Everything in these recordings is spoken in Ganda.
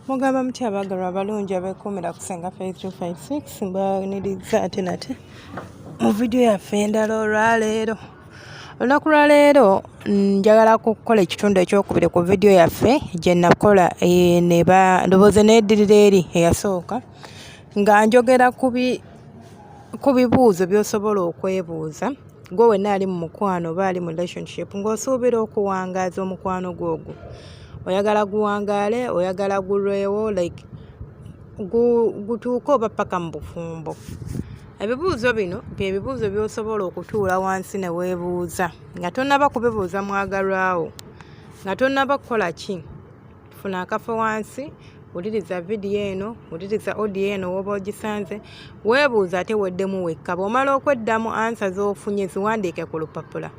mugamba muti abaagalwa abalungi abeekuumira ku senga 5356 mbaniriza ate nate mu vidiyo yaffe endala olwaleero olunaku lwaleero njagala kukola ekitundu ekyokubiri ku vidiyo yaffe gye nakola eh, ne ba ndowooza needirira eri eyasooka nga njogera ku bibuuzo by'osobola okwebuuza gwe wenna ali mu mukwano oba ali mu relationship ng'osuubira okuwangaaza omukwano gwo ogwo oyagala guwangaale oyagala gulwewo like gutuuke oba paka mu bufumbo ebibuuzo bino bye bibuuzo by'osobola okutuula wansi ne weebuuza nga tonnaba kubibuuza mwagalwawo nga tonnaba kukola ki funa akafo wansi wuliriza vidiyo eno wuliriza odiyo eno woba ogisanze weebuuza ate weddemu wekka bw'omala okweddamu ansa z'ofunye ziwandiike ku lupapula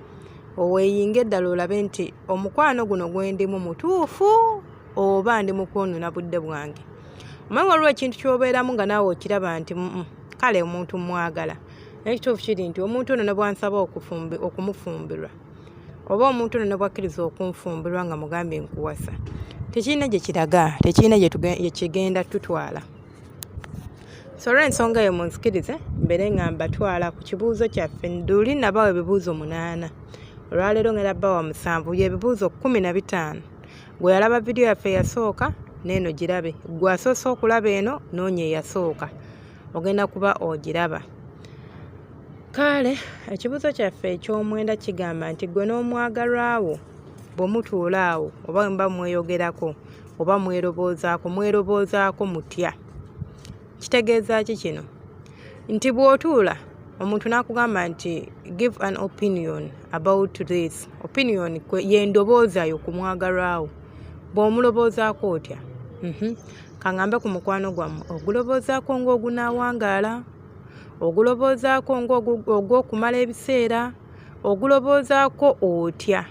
oweeyinga eddala olabe nti omukwano guno gwendimu mutuufu oba ndi mukwonona budde bwange omaye waliwo ekintu kyobeeramu nga naawe okiraba nti kale omuntu mwagala naye ekituufu kiri nti omuntu ono nabwansaba okumufumbirwa oba omuntu ono nebwakkiriza okunfumbirwa nga mugambye nkuwasa tekirina gye kiraga tekirina gyekigenda tutwala so olwensonga eyo munzikirize mbeere nga mbatwala ku kibuuzo kyaffe nduli nabawa ebibuuzo munaana olwaleero ngera bawa musanvu yebibuuzo kumi na bitaano gwe yalaba vidiyo yaffe eyasooka neeno girabe gwe asoose okulaba eno noonya eyasooka ogenda kuba ogiraba kaale ekibuuzo kyaffe eky'omwenda kigamba nti gwe n'omwagalwa wo bwe mutuula awo oba bwe muba mweyogerako oba mweroboozaako mweroboozaako mutya kitegeeza ki kino nti bw'otuula omuntu n'akugamba nti give an opinion about this opinion yendoboozayo ku mwagalwawo bw'omuloboozaako otya mhm. Kangambe ku mukwano gwammwe oguloboozaako ng'ogunaawangaala, oguloboozaako ng'ogw'okumala ebiseera, oguloboozaako otya?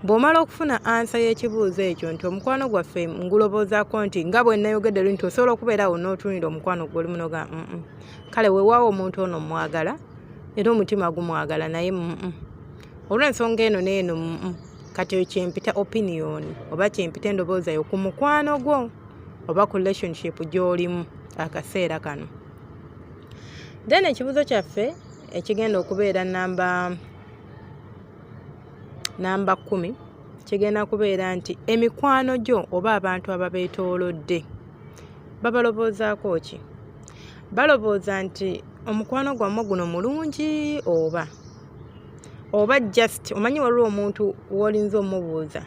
Bw'omala okufuna ansa y'ekibuuzo ekyo nti omukwano gwaffe nguloboozaako nti nga bwe nnayogedde lu nti osobola okubeera awo n'otunira omukwano gwoli munoga mm kale weewaawo omuntu ono mmwagala era omutima gumwagala naye mm olw'ensonga eno n'eno mm kati oyo kyempita opinion oba kyempita endobooza yo ku mukwano gwo oba ku relationship gy'olimu akaseera kano then ekibuzo kyaffe ekigenda okubeera namba namba kumi kigenda kubeera nti emikwano gyo oba abantu ababeetoolodde babaloboozaako ki balowooza nti omukwano gwammwe guno mulungi oba oba just omanyi waliwo omuntu wolinza omubuuza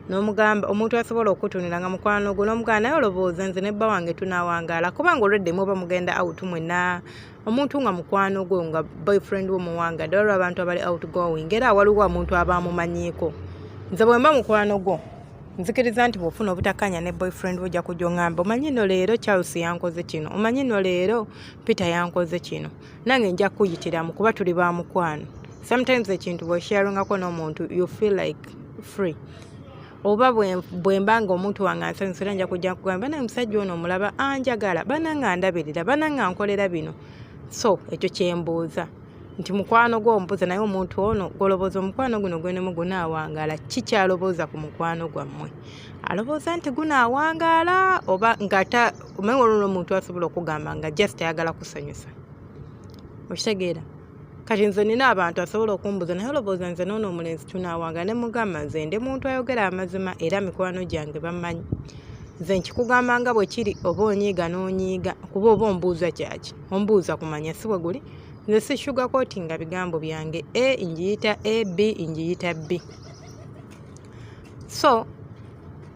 nomugamba omuntu asobola okutunira nga mukwano gwo nomugaa naye olowooza nze nebba wange tunawangaala kubanga olwedde muba mugenda out mwena omuntu nga mukwano gwo nga boyfriend wo muwanga dde waliwo abantu abali out going era waliwo omuntu aba amumanyiiko nze bwemba mukwano gwo nzikiriza nti bwofuna obutakanya ne boyfriend wo ojja kujongamba omanyi no leero charles yankoze kino omanyi no leero peter yankoze kino nange nja kuyitiramu kuba tuli ba mukwano sometimes ekintu bwesharingako n'omuntu you feel like free oba bwemba nga omuntu wange ansanyusira nja kujja nkugamba bana omusajja ono omulaba anjagala bana nga ndabirira bana nga nkolera bino so ekyo kyembuuza nti mukwano gwo ombuuza naye omuntu ono gwolobooza omukwano guno gwenemu gunaawangaala ki kyalobooza ku mukwano gwammwe alowooza nti gunaawangaala oba ngata kubanga olwo omuntu asobola okugamba nga just ayagala kusanyusa okitegeera kati nze nina abantu asobola okumbuza naye olowooza nze noono omulenzi tunawanga ne mugamba nze ndi muntu ayogera amazima era mikwano gyange bamanyi nze nkikugamba nga bwe kiri oba onyiiga n'onyiiga kuba oba ombuuza kyaki ombuuza kumanya si bwe guli nze si shuga kooti nga bigambo byange a ngiyita a b ngiyita b so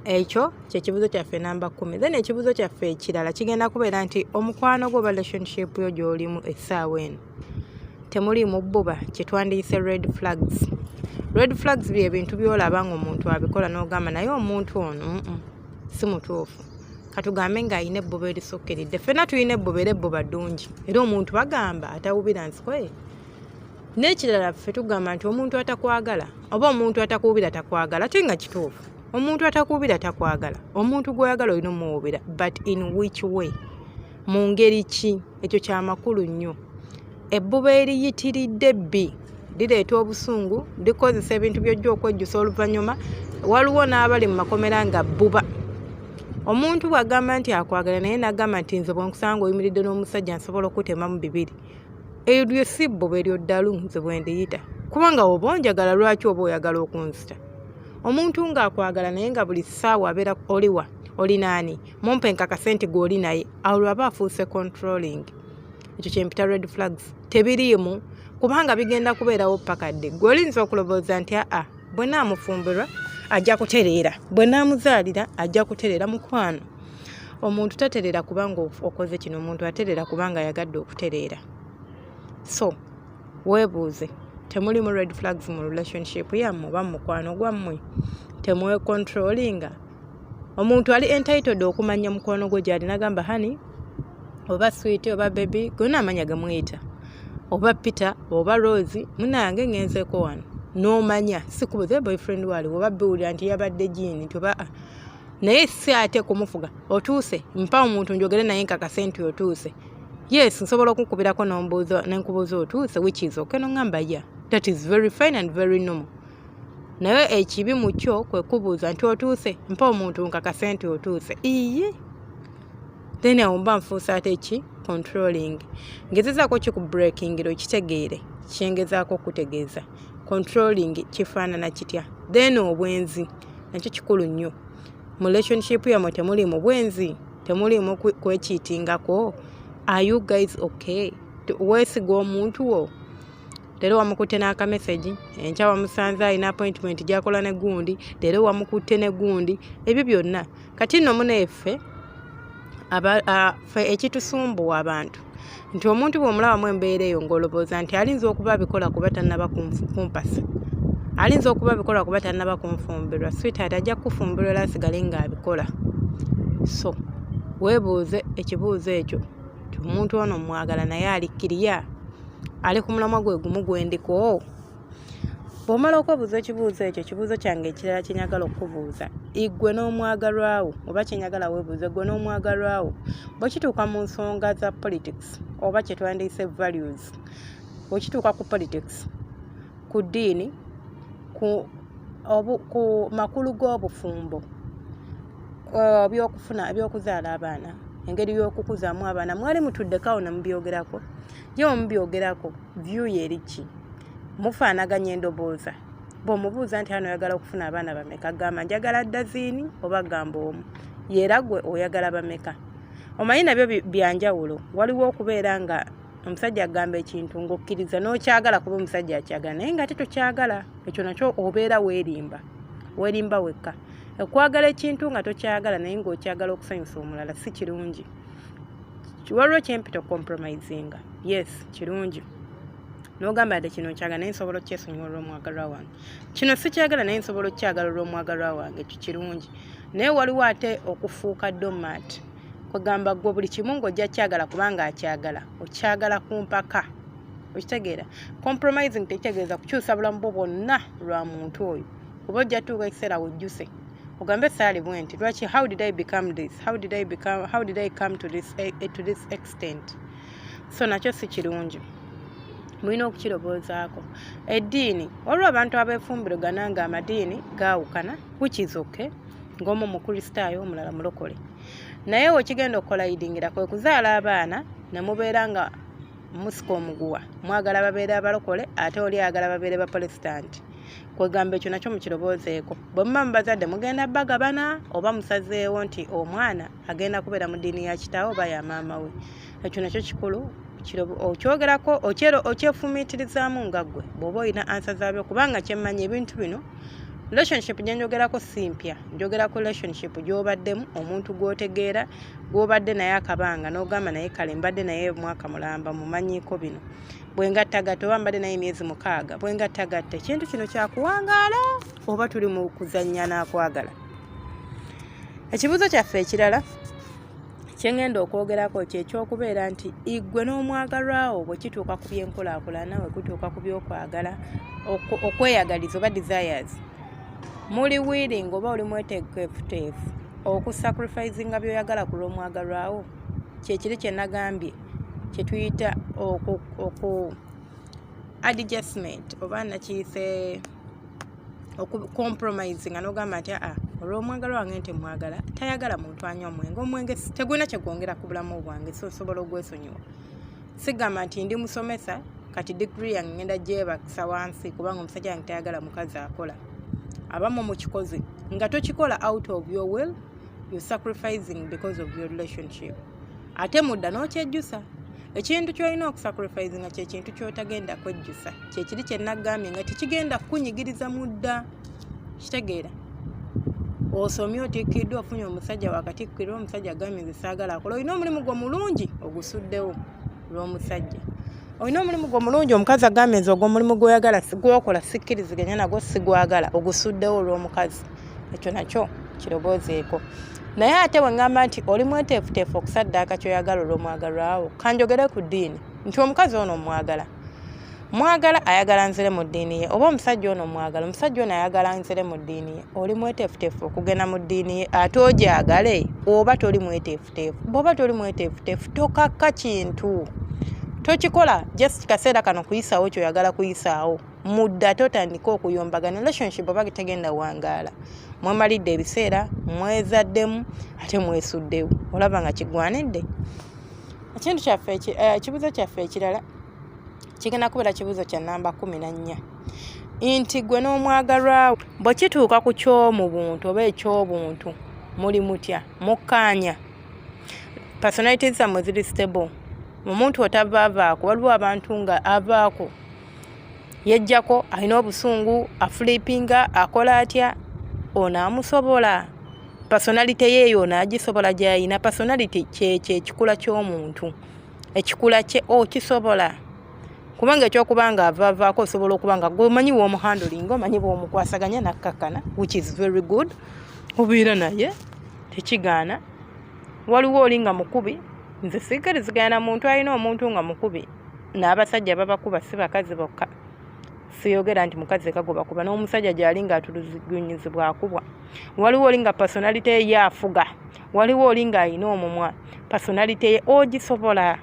ekyo kyekibuzo kyaffe namba kumi then ekibuzo kyaffe ekirala kigenda kubeera nti omukwano gwo relationship yo gyolimu essaawa eno temuli mubbuba kyetwandiyise red flags red flags bye bintu byolaba nga omuntu abikola nogamba naye omuntu ono si mutuufu katugambe nga alina ebbuba erisukkiridde ffena tulina ebbuba era ebbuba ddungi era omuntu bagamba atawubira nsikoye n'ekirala ffe tugamba nti omuntu atakwagala oba omuntu atakuwubira takwagala ate nga kituufu omuntu atakuwubira takwagala omuntu gwoyagala olina omuwubira but in which way mu ngeri ki ekyo kyamakulu nnyo ebbuba eriyitiridde bbi lireeta obusungu likozesa ebintu byojja okwejjusa oluvannyuma waliwo n'abali mu makomera nga bbuba omuntu bw'agamba nti akwagala naye n'agamba nti nze bwenkusanga oyimiridde n'omusajja nsobola okutemamu bibiri eyo lye sibbo bweryo ddalu nze bwe ndiyita kubanga oba onjagala lwaki oba oyagala okunzita omuntu ng'akwagala naye nga buli ssaawa abeera oliwa oli naani mumpe nkakase nti gw'oli naye awo lwaba afuuse controlling ekyo kyempita red flags tebiriimu kubanga bigenda kubeerawo paka dde gwe oyinza okulowooza nti aa bwe naamufumbirwa ajja kutereera bwe naamuzaalira ajja kutereera mukwano omuntu tatereera kubanga okoze kino omuntu atereera kubanga ayagadde okutereera so weebuuze temulimu red flags mu relationship yammwe oba mumukwano gwammwe temwecontrolinga omuntu ali entitled okumanya mukwano gwe gyali nagamba hani oba swit oba bebi gona amanya gamuyita oba peter oba rose munange ngenzeko wano nomanya sikubuze boyfriend waliwo oba biwulira nti yabadde jiini nti oba ah, naye si ate kumufuga otuuse mpa omuntu njogere naye nkakase nti otuuse yes nsobola okukubirako nombuuza nenkubuuza otuuse which is okay nongamba ya that is very fine and very normal naye ekibi mu kyo kwe kubuuza nti otuuse mpa omuntu nkakase nti otuuse iye then awo mba nfuusa ate ki controlling ngezezaako ki ku breaking lo kitegeere kyengezaako okutegeeza controlling kifaanana kitya then obwenzi nakyo kikulu nnyo mu relationship yamwe temuli mu bwenzi temuliimu kwekiitingako are you guys okay weesiga omuntu wo leero wamukutte n'akamesagi enkya wamusanze alina appointment gyakola ne gundi leero wamukutte ne gundi ebyo byonna kati nno muneffe ekitusumbuwa abantu nti omuntu bw'omulabamu embeera eyo ng'olowooza nti alinza okuba abikola kuba tannaba kumpasa alinza okuba abikola kuba tannaba kunfumbirwa sweetheart ajja kukufumbirwa era asigale ng'abikola so weebuuze ekibuuzo ekyo nti omuntu ono mwagala naye alikkiriya ali ku mulamwa gwe gumu gwendiko bw'omala okwebuuza ekibuuzo ekyo ekibuuzo kyange ekirala kye njagala okukubuuza igwe n'omwagalwawo oba kye njagala weebuuza gwe n'omwagalwawo bwe kituuka mu nsonga za politics oba kye twandiyise values bwe kituuka ku politics ku ddiini ku obu ku makulu g'obufumbo uh, byokufuna ebyokuzaala abaana engeri y'okukuzaamu abaana mwali mutuddeko awo ne mubyogerako ye mubyogerako view yeri ki mufaanaganya endobooza bw'omubuuza nti ano oyagala okufuna abaana bameka gamba njagala daziini oba gamba omu yeera gwe oyagala bameka omanyi nabyo byanjawulo waliwo okubeera nga omusajja agamba ekintu ng'okkiriza n'okyagala kuba omusajja akyagala naye nga ate tokyagala ekyo nakyo obeera weerimba weerimba wekka okwagala ekintu nga tokyagala naye ng'okyagala okusanyusa omulala si kirungi waliwo kyempita okucompromisinga yes kirungi nogamba ate kino nkyagala naye nsobola okyesonyiwa olwomwagalwa wange kino sikyagala naye nsobola okyagala olwomwagalwa wange ekyo kirungi naye waliwo ate okufuuka domat kwegamba gwe buli kimu ngaojja kyagala kubanga akyagala okyagala ku mpaka okitegeera compromising tekitegeeza kukyusa bulamu bwo bwonna lwa muntu oyo kuba ojja tuuka ekiseera wejjuse ugambe thali bwenti lwaki how did i become this how did i become how did i come to this eh, eh, to this extent so nakyo si kirungi mulina okukirowoozaako eddiini waliwo abantu abeefumbirogana nga amadiini gaawukana which is okay ng'omu mukristaayo omulala mulokole naye wekigenda okukolayidingira kwe kuzaala abaana ne mubeera nga musika omuguwa mwagala babeere abalokole ate oli agala babeere bapolesitanti kwegamba ekyo nakyo mukirowoozeeko bwe muba mubazadde mugenda bagabana oba musazeewo nti omwana agenda kubeera mu ddiini ya kitaawe oba ya maama we ekyo nakyo kikulu okyogerako okyefumiitirizaamu nga ggwe bw'oba olina ansa zaabyo kubanga kyemmanyi ebintu bino relationship gye njogerako si mpya njogerako relationship gy'obaddemu omuntu gw'otegeera gw'obadde naye akabanga n'ogamba naye kale mbadde naye omwaka mulamba mumanyiko bino bwengattagatta oba mbadde naye emyezi mukaaga bwengattagatta ekintu kino kyakuwangaala oba tuli mu kuzannya n'akwagala ekibuuzo kyaffe ekirala kyengenda okwogerako kyekyokubeera nti igwe n'omwagalwawo bwe kituuka ku byenkulaakulana we kutuuka ku byokwagala okweyagaliza oba desires muli willing oba oli mwetegefuteefu okusacrifisinga byoyagala ku lw'omwagalwawo kyekiri kyenagambye kyetuyita oku, oku adjustment oba nakiyise okucompromising nogamba nti aa olwomwagala wange nti mwagala tayagala muntu anywa omwenge omwenge tegulina kyegwongera ku bulamu bwange so osobola ogwesonyiwa sigamba nti ndi musomesa kati digiri yange ngenda gyebakisa wansi kubanga omusajja wange tayagala mukazi akola abamu mukikozi nga tokikola out of your will you sacrificing because of your relationship ate mudda n'okyejjusa ekintu kyolina okusacrifice nga kyekintu kyotagenda kwejjusa kyekiri kyenagambye nga tekigenda kukunyigiriza mudda kitegeera osomye otikkiddwa ofunye omusajja wakatikkira omusajja agambye nze saagala akola olina omulimu gwo mulungi ogusuddewo lw'omusajja olina omulimu gwo mulungi omukazi agambye nze ogwomulimu gwoyagala gwokola sikkiriziganya nagwo sigwagala ogusuddewo olw'omukazi ekyo nakyo kiroboozeeko naye ate bwe ŋŋamba nti oli mweteefuteefu okusaddaaka kyoyagala olw'omwagalwawo kanjogere ku ddiini nti omukazi ono omwagala mwagala ayagala nzire mu ddiini ye oba omusajja ono omwagala omusajja ono ayagala nzire mu ddiini ye oli mweteefuteefu okugenda mu ddiini ye ate ogyagale oba toli mweteefuteefu bwoba toli mweteefuteefu tokakka kintu tokikola just kaseera kano kuyisaawo kyoyagala kuyisaawo mudda totandika okuyombagana relationship oba tegenda wangaala mwemalidde ebiseera mwezaddemu ate mwesuddewo olaba nga kigwanidde ekintu kyaffe eh, ekibuzo kyaffe ekirala kigenda kubeera kibuzo kya namba kumi na nnya nti gwe n'omwagalwawo bwe kituuka ku kyomu buntu oba ekyobuntu muli mutya mukkaanya personality zammwe ziri stable omuntu otavaavaako waliwo abantu nga avaako yejjako alina obusungu afulipinga akola atya ono amusobola personality yeeyo ono agisobola gyayina personality kyekyo ekikula ky'omuntu ekikula kye okisobola oh, kubanga ekyokuba nga avavaako osobola okuba nga gwemanyi womuhandolinga omanyi bwomukwasaganya nakkakkana which is very good obeera naye tekigaana waliwo oli nga mukubi nze siikirizigaana muntu alina omuntu nga mukubi n'abasajja babakuba si bakazi bokka siyogera nti mukazi kagoba kuba n'omusajja gyali nga atulugunyizibwa akubwa waliwo oli nga personality ye afuga waliwo oli nga alina omumwa personality ye ogisobola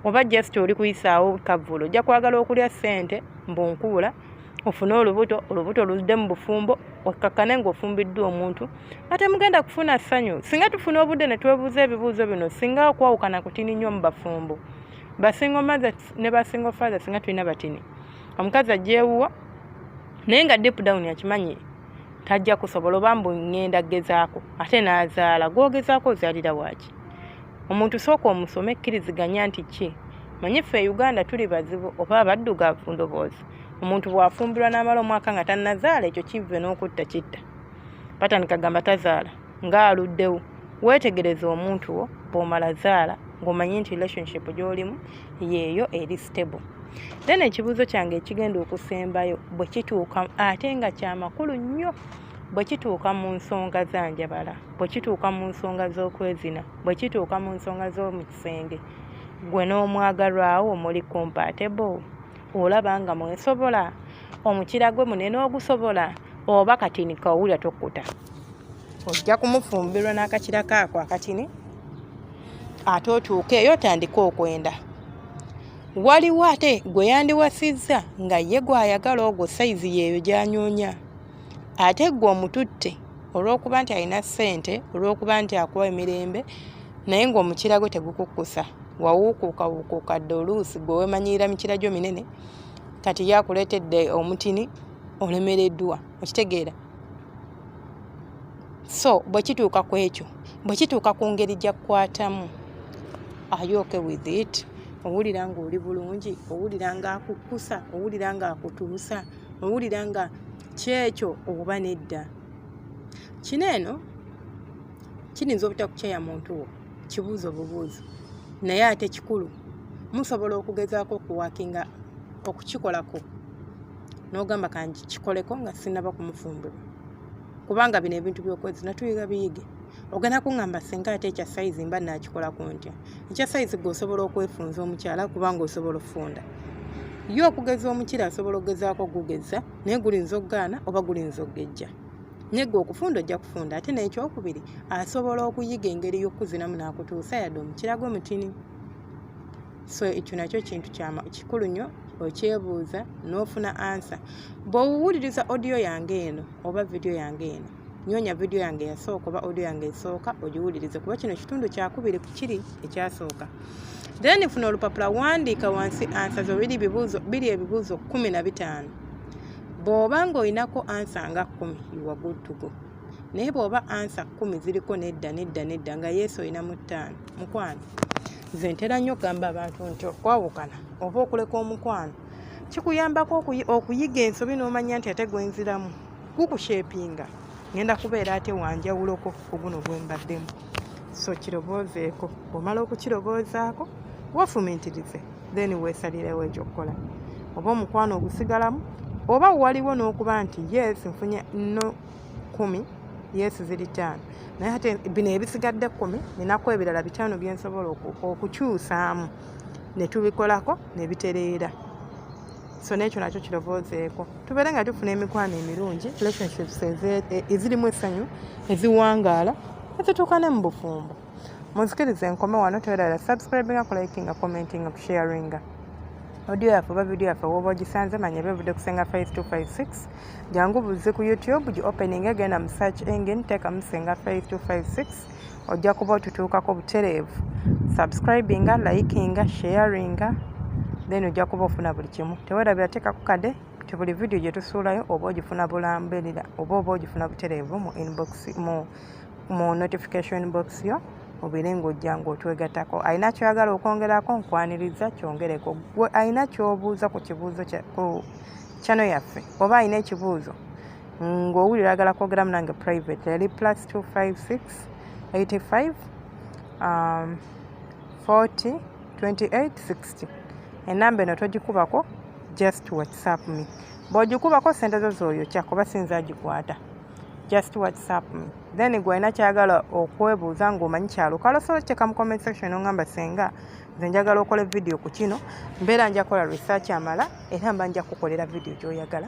oba just oli kuyisaawo kavvulu ojja kwagala okulya ssente mbu nkuula ofune olubuto olubuto luzde mu bufumbo okkakkane ng'ofumbiddwa omuntu ate mugenda kufuna ssanyu singa tufuna obudde ne twebuuza ebibuuzo bino singa okwawukana kutini nnyo mu bafumbo basingo mother ne basingo father singa tulina batini omukazi ajewuwo naye nga deep down akimanyi tajja kusobola oba mbu ngenda gezaako ate n'azaala gwogezaako ozaalira waaki omuntu sooka omusoma ekkiriziganya nti ki manyi ffe e uganda tuli bazibu oba abaddugavu ndoboozi omuntu bwafumbirwa n'amala omwaka nga tanazaala ekyo kivve n'okutta kitta batandika gamba tazaala ng'aluddewo weetegereze omuntu wo bw'omala zaala ng'omanyi nti relationship gy'olimu yeeyo eri stable then ekibuuzo kyange ekigenda okusembayo bwe kituuka ate nga kyamakulu nnyo bwe kituuka mu nsonga za njabala bwe kituuka mu nsonga z'okwezina bwe kituuka mu nsonga z'omu kisenge gwe n'omwagalwawo muli compatible olaba nga mwesobola omukira gwe munene ogusobola oba katini kawulira tokuta ojja kumufumbirwa n'akakira kaako akatini ate otuuke eyo otandike okwenda waliwo ate gwe yandiwasizza nga ye gwayagala ogwo sayizi yeeyo gyanyunya ate ggwe omututte olw'okuba nti alina ssente olw'okuba nti akuwa emirembe naye ng'omukira gwe tegukukkusa wawuukuuka wuukuuka dde oluusi gwe weemanyirira mikira gyo minene kati ye akuleetedde omutini olemereddwa okitegeera so bwe kituuka ku ekyo bwe kituuka ku ngeri gyakukwatamu ayooke with it owulira ng'oli bulungi owulira ng'akukkusa owulira ng'akutuusa nga owulira nga kyekyo oba nedda kino eno kiyinza obutakukyeya muntu wo kibuuzo bubuuzo naye ate kikulu musobola okugezaako okuwakinga okukikolako nogamba kangi kikoleko nga sinaba kumufumbirwa kubanga bino ebintu byokwezi natuyiga biyige ogenda kuŋŋamba singa ate ekya sayizi mba nakikolako ntya ekya sayizi gwe osobola okwefunza omukyala kubanga osobola okufunda ye okugeza omukira asobola okugezaako okugeza naye gulinza okugaana oba gulinza okugejja nyega okufunda ojja kufunda ate n'ekyokubiri asobola okuyiga engeri y'okukuzinamu n'akutuusa yadde omukirago mutini so ekyo nakyo kintu kikulu nnyo okyebuuza n'ofuna ansa bw'owuwuliriza odiyo yange eno oba vidiyo yange eno nyonya vidiyo yange yasooka oba audio yange esooka ogiwulirize kuba kino kitundu kyakubiri ku kiri ekyasooka then funa olupapula wandiika wansi ansa zo biri ebibuuzo biri ebibuuzo kumi na bitaano bw'oba ng'olinako ansa nga kkumi iwa good to go naye bw'oba ansa kkumi ziriko nedda nedda nedda nga yesu olina mu ttaano mukwano nze ntera nnyo okugamba abantu nti okwawukana oba okuleka omukwano kikuyambako okuyiga ensobi n'omanya nti ate gwenziramu kukushepinga ngenda kubeera ate wanjawuloko kuguno gwembaddemu so kiroboozeeko omala okukiroboozaako wafumintirize then weesalirewo ekyokukola oba omukwano ogusigalamu oba waliwo n'okuba nti yes nfunye no kumi yes ziri taano naye ate bino ebisigadde kumi ninaku ebirala bitaano byensobola okukyusaamu ne tubikolako ne bitereera so n'ekyo nakyo kirowoozeeko tubeere nga tufuna emikwano emirungi relationships ezirimu e, essanyu eziwangaala ezituukane mu bufumbo munzikiriza enkome wano toyerara subscribinga kulikinga commentinga kusharinga audio yaffe oba vidiyo yaffe woba ogisanze manya bevudde kusenga 5256 jangu buzze ku youtube gi opening egenda mu search engine teekamu senga 5256 ojja kuba otutuukako butereevu subscribinga likinga sharinga then ojja kuba ofuna buli kimu tewerabira teekaku kade ti buli vidiyo gye tusuulayo oba ogifuna bulamberera oba oba ogifuna butereevu mu inbox mu mu notification box yo obeere ng'ojja ng'otwegattako alina kyoyagala okwongerako nkwaniriza kyongereko gwe alina kyobuuza ku kibuuzo ku kyano yaffe oba alina ekibuuzo ng'owulira ayagala kwogeramu nange private yali plus 256 85 um, 40 28 60 enamba eno togikubako just whatsapp me bwogikubako sente zo zooyo kyakuba sinza agikwata just whatsapp me then gwalina kyagala okwebuuza ngaomanyi kyalukalo so kiteeka mu comment section ongamba senga nze njagala okola vidiyo ku kino mbeera njakola research amala era mba nja kukolera vidiyo gyoyagala